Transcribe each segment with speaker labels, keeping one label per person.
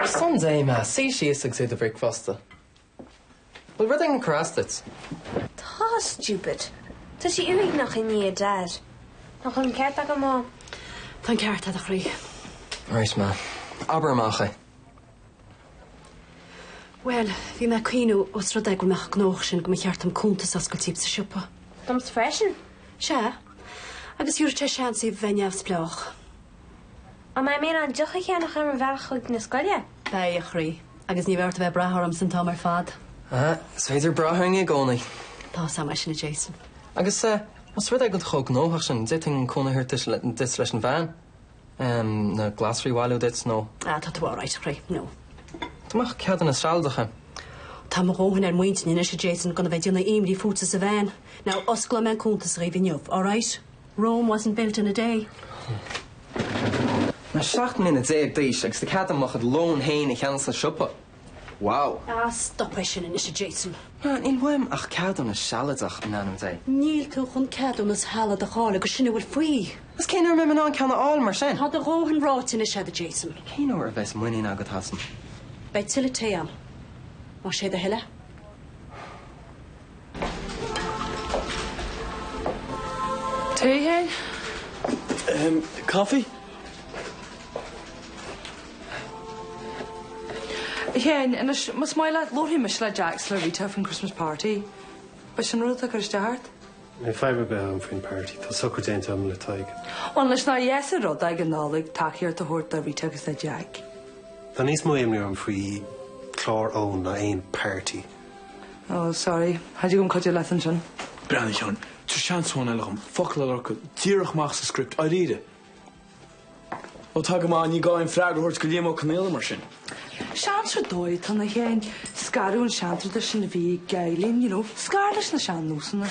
Speaker 1: Ar son Dé, Ma, suigh síos agus ith do bhricfeasta. Bhfuil rud éigin ag cur as duit?
Speaker 2: Tá, stupid. Tá sí uaigneach i ndiaidh Dad. Nach bhfuil an ceart agam, Ma? Tá an ceart
Speaker 3: agat, a chroí. Right, Ma.
Speaker 1: Abair amach é.
Speaker 3: Bhuel, bhí mé ag cuimhniú os rud é go bhfuil mé chomh gnóthach sin go mba cheart dom cuntas a oscailt daoibh sa siopa. Domsa freisin.
Speaker 2: Sea.
Speaker 3: Agus thiúrfadh sé seans daoibh a bheith neamhspleách.
Speaker 2: An mbeidh mé in ann deoch a cheannach ar mo bhealach chuig na scoile? Beidh, a
Speaker 3: chroí. Agus ní bheidh ort a bheith ag brath ormsa an t-am ar fad. Ah, is féidir
Speaker 1: brath orainn i gcónaí. Tá a fhios agam é sin, a
Speaker 3: Jason. Agus
Speaker 1: os rud é go bhfuil tú chomh gnóthach sin, d'fhéadfainn cúnamh a thabhairt duit leis an veain, na glasraí a bhailiú duit nó. Ah, tá tú alright, a
Speaker 3: chroí. No. Dá mbeadh
Speaker 1: ceadúnas sealadach agam. Tá mo
Speaker 3: dhóthain ar m'intinn anois, a Jason, gan a bheith ag déanamh imní fútsa sa veain. Now, osclóidh mé an cuntas dhaoibh inniu, alright? Rome wasn't built in a
Speaker 1: day. Mé seacht mbliana déag d'aois agus tá cead agam mo chuid lón féin a cheannach sa siopa. Wow! Ah, stop é sin
Speaker 3: anois, a Jason. Ah, níl uaim
Speaker 1: ach ceadúnas sealadach, in ainm Dé. Níl tú
Speaker 3: chun ceadúnas shealadach a fháil agus sin a bhfuil faoi. Agus cén uair a mbeidh mé in
Speaker 1: ann ceann a fháil mar sin? Tá do dhóthain ráite
Speaker 3: anois agat, a Jason. Cén uair a bheas muinín
Speaker 1: agat asam? Beidh tuilleadh
Speaker 3: tae agam. Más é do thoil é.
Speaker 4: Tae, a Sheáin? Ehm, caife? Sheáin, Anois, más maith leat, labharfaidh mise le Jack is le Rita faoin Christmas party. Ab é sin an rud atá ag cur isteach ort? Níl fadhb ar
Speaker 5: bith ann faoin party, tá socrú déanta agam le Tadhg. Bhuel, anois nár
Speaker 4: dheas an rud ag an Nollaig tacaíocht a thabhairt do Rita agus do Jack. Tá níos mó
Speaker 5: imní orm faoi chlár Eoin ná aon party.
Speaker 4: Oh sorry, cha dtig liom cuidiú leat ansin. Breathnaigh
Speaker 6: cheana. Tá seans amháin eile dhom focal a lorcadh díreach amach sa script dháiríre. Ó tá go maith, ní gá aon freagra a thabhairt do Liam Ó Conghaile mar sin. Seans
Speaker 4: ar dóigh atá ann, a Sheáin, scaradh ón seantraidisiún a bhí ag Eileen, you know, scaradh leis na
Speaker 5: sean-nósanna.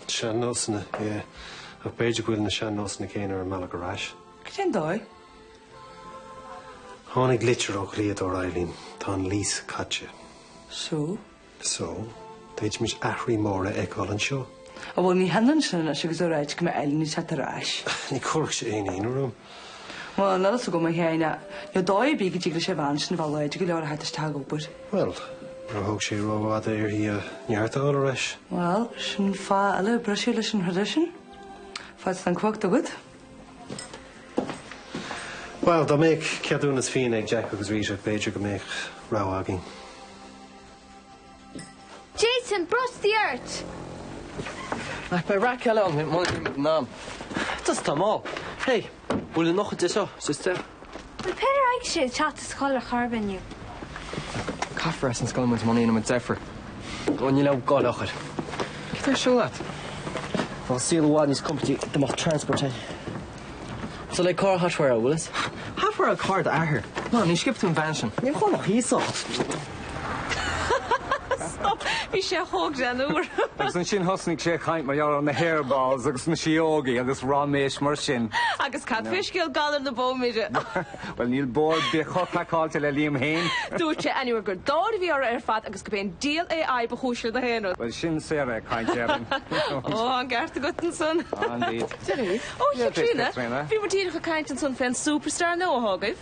Speaker 5: Sean-nósanna, yeah. Ach b'fhéidir go bhfuil na sean-nósanna céanna ar an mbealach ar ais. Cén dóigh? Tháinig litir ó dhlíodóir Eileen. Tá an lease caite.
Speaker 4: So?
Speaker 5: So, d'fhéadfaimis athruithe móra a fheiceáil anseo. Ó bhuel, ní hionann
Speaker 4: sin anois agus a ráit go mbeidh Eileen ag teacht ar ais. Ní chuirfeadh sé aon
Speaker 5: ionadh orm. Bhuel, ón
Speaker 4: eolas agam, a Sheáin, níl dóigh ar bith go dtig leis an bhean sin a bheith láidir go leor a theacht isteach ag obair. Bhuel,
Speaker 5: níor thóg sé rófhada uirthi a neart a fháil ar ais. Bhuel, sin
Speaker 4: fáth eile briseadh leis an traidisiún. Fad is atá an chumhacht agat.
Speaker 5: Bhuel, dá mbeadh ceadúnas fíona ag Jack agus Rita, b'fhéidir go mbeadh rogha againn.
Speaker 2: Jason, brostaigh ort!
Speaker 1: Ach beidh raic eile ann muna mbeidh muid in am. Just tá mall. Hey, bhfuil an nochad de seo, Sister. Bhfuil
Speaker 2: Peadar ag sé ag teacht as a chodladh chor ar bith inniu?
Speaker 1: Caithfear as an scoil muid muna ndéanfaimid deifir. Go n-i leabh go leochair. Cé tá ar siúl leat?
Speaker 7: Tá saol i bhfad níos compordaí do mo transport
Speaker 1: é. Sula ag carr hot wire a Willis? Hot wire carr d'athar. No, níor sciob tú an veain sin. Níl chomh maith thíos ann.
Speaker 4: Stop! Bhí sé chomh greannmhar! Agus ansin
Speaker 8: thosnaigh sé ag caint mar gheall ar na hairballs agus na síógaí agus ráiméis mar sin. Agus cad faoi scéal
Speaker 4: galar na bó mire? Bhuel, níl bó
Speaker 8: ar bith chomh craiceáilte le Liam féin! Dúirt sé anuraidh
Speaker 4: gur dáir a bhí orthu ar fad agus gurb é an diabhal AI ba chúis le gach aon rud. Bhuel, sin Sarah
Speaker 8: ag caint ar an. Ó, an
Speaker 4: ceart agat ansan! Indeed.
Speaker 8: Ó,
Speaker 4: Chaitríona, bhí muid díreach ag caint ansan fén superstar nua agaibh.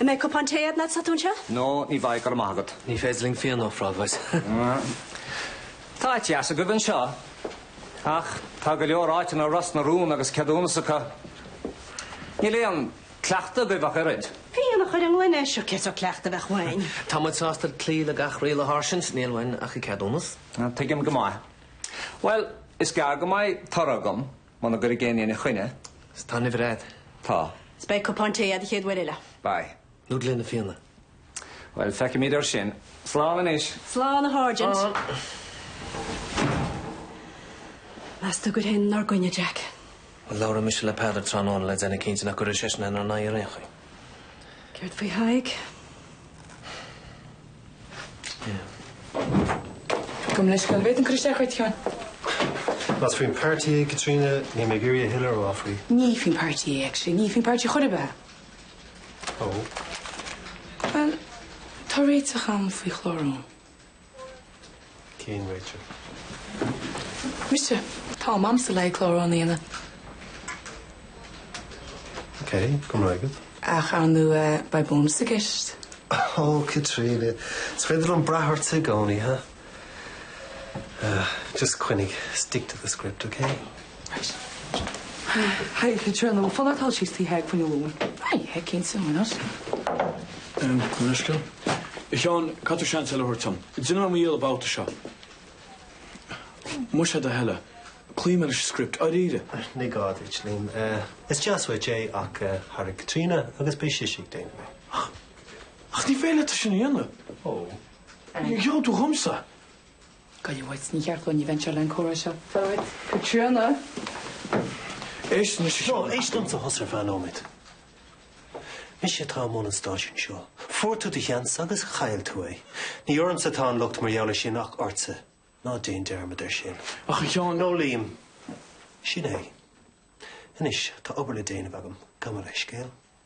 Speaker 7: An mbeidh cupán
Speaker 3: tae a'd anois 's tú anseo? No, ní bheidh, go raibh
Speaker 8: maith agat. Ní féidir linn fíon
Speaker 7: a ofráil
Speaker 8: dhuit. Tá áit dheas agaibh anseo. Ach tá go leor áiteanna i Ros na Rún agus ceadúnas acu. Níl aon cleachtadh agaibh ach oiread. Fíon a chur i
Speaker 3: ngloine, sure, cén sórt cleachtadh a bheadh uainn? Tá muid sásta
Speaker 7: cloí le gach riail a Sháirsint, níl uainn ach an ceadúnas. Tuigim go maith.
Speaker 8: Bhuel, is gearr go mbeidh toradh agam. Muna gcuirfidh éinne ina choinne. 'S tá an uimhir
Speaker 7: a'ad. Tá. 'S
Speaker 8: beidh cupán tae
Speaker 3: a'ad an chéad uair eile. Beidh. Nó
Speaker 8: gloine fíona.
Speaker 7: Bhuel,
Speaker 8: feicfimid ar sin. Slán anois. Slán a
Speaker 3: Sháirsint. Slán. Meas tú an gcuirfidh éinne 'nár gcoinne Jack? Bhuel, labhróidh mise
Speaker 7: le Peadar tráthnóna le déanamh cinnte nach gcuirfidh seisean inár n-aghaidh ar aon chaoi.
Speaker 3: Céard faoi Thadhg?
Speaker 9: Gabh mo leithscéal, bhféadfainn cur isteach ort, a Sheáin. Más
Speaker 5: faoin páirtí é, Caitríona, níl mé ag iarraidh a thuilleadh a rá faoi. Ní faoin páirtí
Speaker 9: é, actually. Ní faoin páirtí chor ar bith. Ó. Bhuel, tá réiteach a'm faoi chlárú.
Speaker 5: Cén
Speaker 9: réiteach? Mise. Tá am a'msa le haghaidh chlár na
Speaker 5: hAoine. Ok, go raibh maith agat. Ach ar
Speaker 9: ndóigh, beidh bónas i gceist.
Speaker 5: Ó, Caitríona, is féidir liom brath ortsa i gcónaí, ha? Just coinnigh, stick to the script, ok?
Speaker 4: Hi, Caitríona. Bhfuil fonn ort dul síos tigh Thaidhg faoi choinne lóin? Hi, hi, cén
Speaker 9: saol mar nós? Em,
Speaker 6: an uisce? A Sheáin, caithfidh tú seans eile a thabhairt dom? Déanfaidh mé mo dhícheall an babhta seo. Más é do thoil é. Cloífidh mé leis an script. Dáiríre. Ní gá duit,
Speaker 5: Liam. Eh, is deas uait é ach eh, thairg Caitríona agus beidh sise ag déanamh é. Ach
Speaker 6: ní féidir leat é sin a dhéanamh.
Speaker 5: Ó. Gheall
Speaker 6: tú dhomsa. Gabh i
Speaker 9: leith uait. Ní cheart dó ní bhaineann sé le'n comhrá seo. Táimid.
Speaker 6: Caitríona. Éist anois a Sheáin. Seán, éist liomsa thusa ar feadh
Speaker 5: nóiméad. Mise atá i mbun an stáisiúin seo. Fuair tú do sheans agus chaill tú é. Ní ormsa atá an locht mar gheall ar sin ach ortsa. Ná déan dearmad ar sin. Ach, a Sheáin. No,
Speaker 6: Liam,
Speaker 5: sin é. Anois, tá obair le déanamh agam. Gabh mo leithscéal.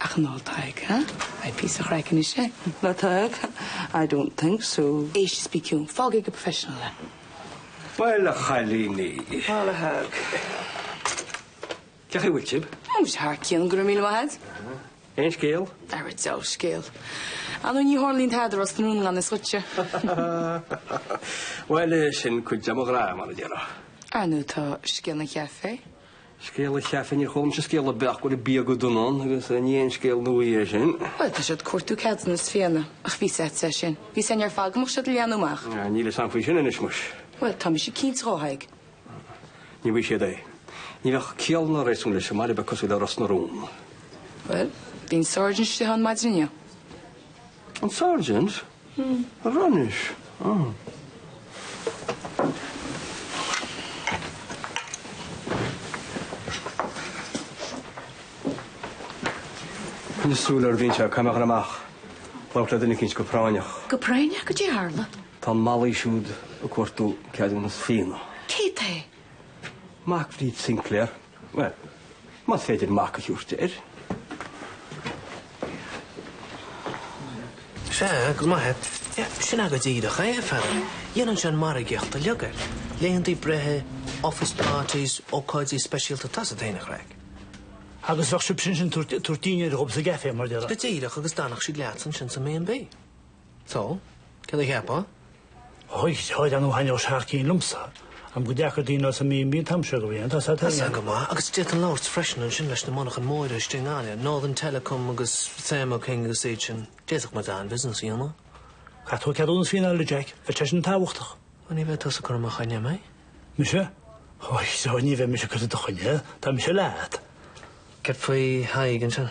Speaker 9: Ach an bhfuil Tadhg, ha? Beidh píosa chraicinn is ea. Ná
Speaker 4: Tadhg? I don't think so. Éist, bí ciúin. Fágaigí
Speaker 9: go professional é. Bhuel
Speaker 8: a chailíní. Bhuel a
Speaker 4: Thaidhg.
Speaker 8: Cén chaoi a bhfuil sibh? Ó, muis thar
Speaker 9: cionn, go raibh míle maith agat. Aon
Speaker 8: scéal? Ara diabhal
Speaker 9: scéal. Ar ndóigh ní tharlaíonn tada i Ros na Rún gan fhios duitse?
Speaker 8: Bhuel, sin cuid de mo ghraithe, mar a déarfá. Ar ndóigh tá
Speaker 9: scéal an chafé. Scéal
Speaker 8: an chafé? Níor chuala mise scéal ar bith ach go bhfuil an bia go dona ann agus ní haon scéal nua é sin. Bhuel, tá siad ag cuartú
Speaker 9: ceadúnas fíona, ach bhí a fhios agatsa sin. Bhí a fhios againn ar fad go mbeadh siad ag leathnú amach. Ah, níl fhios agam faoi sin
Speaker 8: anois muis. Bhuel, tá mise cinnte
Speaker 9: dhe, a Thaidhg.
Speaker 8: Ní bhfaighidh siad é. Ní bheadh ciall ná réasún leis i mbaile beag cosúil le Ros na Rún. Bhuel,
Speaker 9: bhí an sáirsint istigh ann maidin inniu.
Speaker 8: An Sergeant? An raibh anois? Ahh. Coinnigh súil ar bhíonn sé caithfidh mé a ghoil amach. Labhairt le duine eicínt go práinneach. Go práinneach cad é a
Speaker 10: tharla? Tá an malaí siúd
Speaker 8: ag cuartú ceadúnas fíona. Cé hé? Mac Bhríd Sinclair. Bhuel, más féidir mac a thabhairt
Speaker 7: air. Sea, go maith. Sin agat díreach é, a Pheadair. Dhéanfainnse an mhargaíocht uilig air. Laethanta breithe, office parties, ócáidí speisialta, tá a fhios agat féin an chraic. Agus
Speaker 11: bheadh sibhse ansin ag tabhairt dinnéar dhóibh sa gcafé, mar a déarfá. Go díreach agus d'fhanfadh siad
Speaker 7: leat ansin sa mB. So, cad a cheapfá? Ó,
Speaker 11: ar ndóigh thaitneodh sé thar cionn liomsa. Annamh go dteagann daoine sa mB&B an t-am seo dhe bhliain, tá a fhios agat féin. Tá a fhios agam go maith, agus
Speaker 7: d'fhéadfainn labhairt freisin ansin leis na monarchana móra istigh i nGaillimh, Northern Telecom agus Thermo King agus iad sin. D'fhéadfadh muid an-bhusiness a dhéanamh. Caithfidh tú
Speaker 11: ceadúnas fíona a fháil, Jack, bheadh sé sin tábhachtach. Ó, ní bheidh tusa ag
Speaker 7: cur i mo choinne, an mbeidh? Mise?
Speaker 11: Ois, so ní bheidh mise ag cur i do choinne, tá mise leat. Cad faoi
Speaker 7: Thadhg ansin?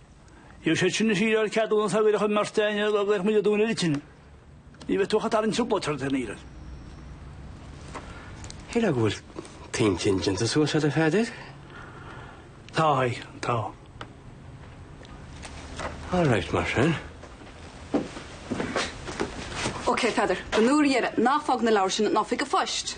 Speaker 11: Níl sé sin is iarraidh ceadúnas a bhféadfadh an mbeirt éinne a ghlaoch muid a dúnadh ag tine. Ní bheidh tú ach ag tarraingt trioblóid ort féin á iarraidh.
Speaker 12: Shílfeá go bhfuil t'intinn déanta suas agat, a Pheadair?
Speaker 11: Tá, a Thaidhg,
Speaker 12: tá. All right, mar
Speaker 13: sin. OK, Peadar, don uair dheiridh, ná fág na leabhair sin in oifig an phoist!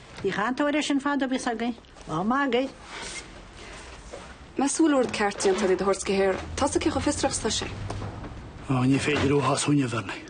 Speaker 14: Bhí cainteoir ar sin fadó bhíos againn. Lá maith againn. Más
Speaker 13: súil ort ceart déantar de do shórt go haer, tosaigh cé chomh fiosrach
Speaker 11: is tá
Speaker 13: sé. Ó,
Speaker 11: ní
Speaker 13: féidir uathu as Fhuinneamh Bhearnaí.